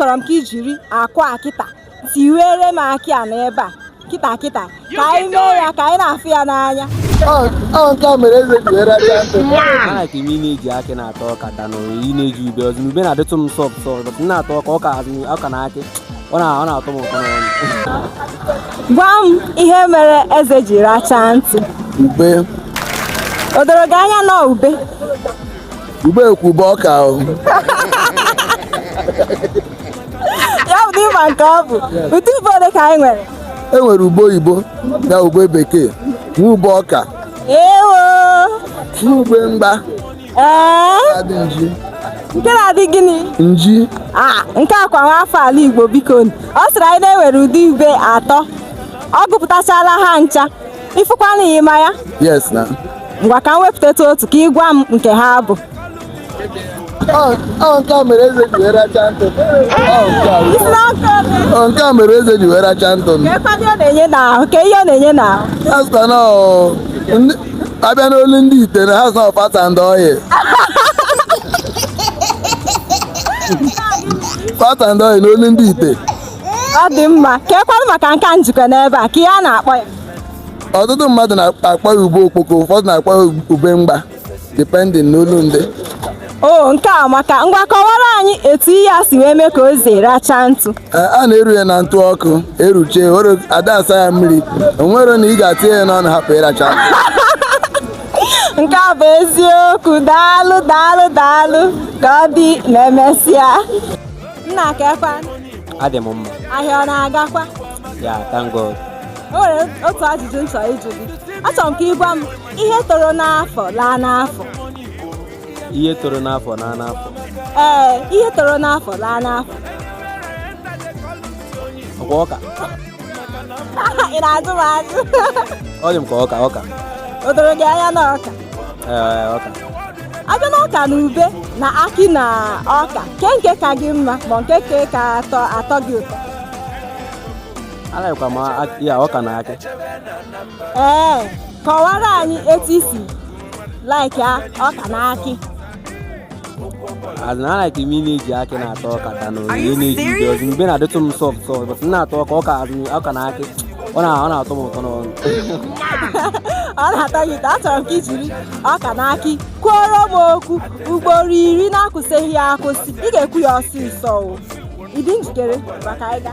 achọrọ m ka i jiri akụ a kịta tiwere m akị a n'ebe a kịta kịta ka anyị mee ya ka anyị na-afụ ya n'anya ọ nke a mere eze ji were racha ntụ mana ka ime ị na-eji akị na-ata ọka than ị na-eji ube ọzọ ube na-adịtụ m soft soft but m na-ata ọka ọka as in ọka na akị ọ na- ọ na-atọ m ụtọ n'ọnụ gwa m ihe mere eze ji rachaa ntụ ube o doro gị anya na ube ube ekwu ube ọka ahụ ya bụ ị ma nke ọ bụ ụdị ube ole ka anyị nwere e nwere ube oyibo na ube bekee nwee ube ọka ewo na ube mgba ee adị nji nke na-adị gịnị nji Ah, nke a kwa nwa afọ ala igbo biko ọ sịrị anyị na e nwere ụdị ube atọ ọ gụpụtachala ha ncha ị fụkwa na ị ma ya yes na ngwa ka m wepụtatụ otu ka ị gwa m nke ha bụ Ọ- ọ nke a mere eze ji wee racha ntụ Ọ nke a bụ- ị sị na nke ole ọ nke a mere eze ji wee racha ntụ kekwadị ọ na-enye n'ahụ ke ihe ọ na-enye n'ahụ ha sịkwa na ọ- ndị- a bịa n'olu ndị ite na ha sị na ọ fat and oil fat and oil n'olu ndị ite ọ dị mma kekwanụ maka nke a m ji aka n'ebe a ke ihe a na-akpọ ya ọtụtụ mmadụ na-akpọ ya ube okpoko ụfọdụ na-akpọ ya ube mgba depending n'olu ndị o nke a amaka ngwa kọwara anyị etu ihe a si wee mee ka eze racha ntụ a na-eru ya na ntụ ọkụ e ruchaa ada asa ya mmiri o nwere na ị ga-atinye ya n'ọnụ hapụ ịracha nke a bụ eziokwu daalụ daalụ daalụ ka ọ dị na emesịa Nna kekwa. Adị m mma. Ahịa ọ na-agakwa? Ya, thank God. O nwere otu ajụjụ m chọrọ ịjụ gị. Achọrọ m ka ị gwa m ihe toro n'afọ laa n'afọ. Ihe toro n'afọ laa n'afọ. Ee, ihe toro n'afọ laa n'afọ. Ọkwa ọka. Ị na-ajụ m ajụ. Ọ dị m ka ọka ọka. O doro gị anya na ọka. a bịa na ọka na ube na akị na ọka ke nke ka gị mma ma nke ka ka atọ atọ gị ụtọ a-likekwa m akị ya ọka na akị ee kọwara anyị etu i si like ọka na akị as in like m na-eji akị na-ata ọka than onye na-eji ube ọzọ ube na-adịtụ m soft soft but m na-ata ọka ọka as in ọka na akị ọ na ọ na-atọ m ụtọ n'ọnụ ọ na-atọ gị ụtọ achọrọ m ka i jiri ọka na akị kwuoro m okwu ugboro iri na-akwụsịghị ya akwụsị ị ga-ekwu ya ọsịsọ o ị dị njikere maka ịga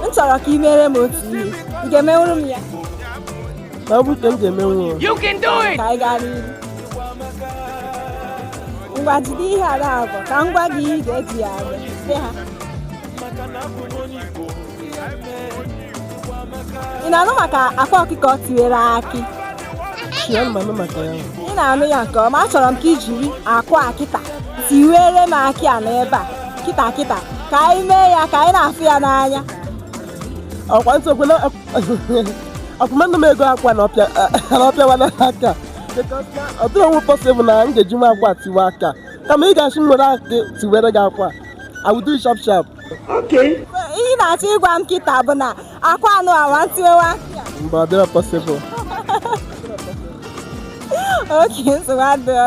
m chọrọ ka ị mere m otu ihe ị ga-emenwuru m ya ma ọ bụ ka m ga-emenwu ya You can do it! ka anyị gaa n'iru ngwa jide ihe a naabụ ka m gwa gị ihe ị ga-eji ya arụ sị ha ị na-anụ maka akwa ọkụkọ tiwere akị ị na-anụ ya nke ọma achọrọ m ka i jiri akwa kịta tiwere m akị a n'ebe a kịta kịta ka anyị mee ya ka anyị na-afụ ya n'anya ọkwa nsogbu na ọkụmanụ m ego akwa na ọ pịa na ọ pịawa n'aka because na ọ dịrọ nwe possible na m ga-ejinwu akwa tiwe akị a kama ị ga-asị m were akị tiwere gị akwa I will do it sharp sharp ihe ị na-achọ ịgwa m kịta bụ na akwa anụ awa ntiwewa mba ọ dịrọ possible okay nsogbu adịrọ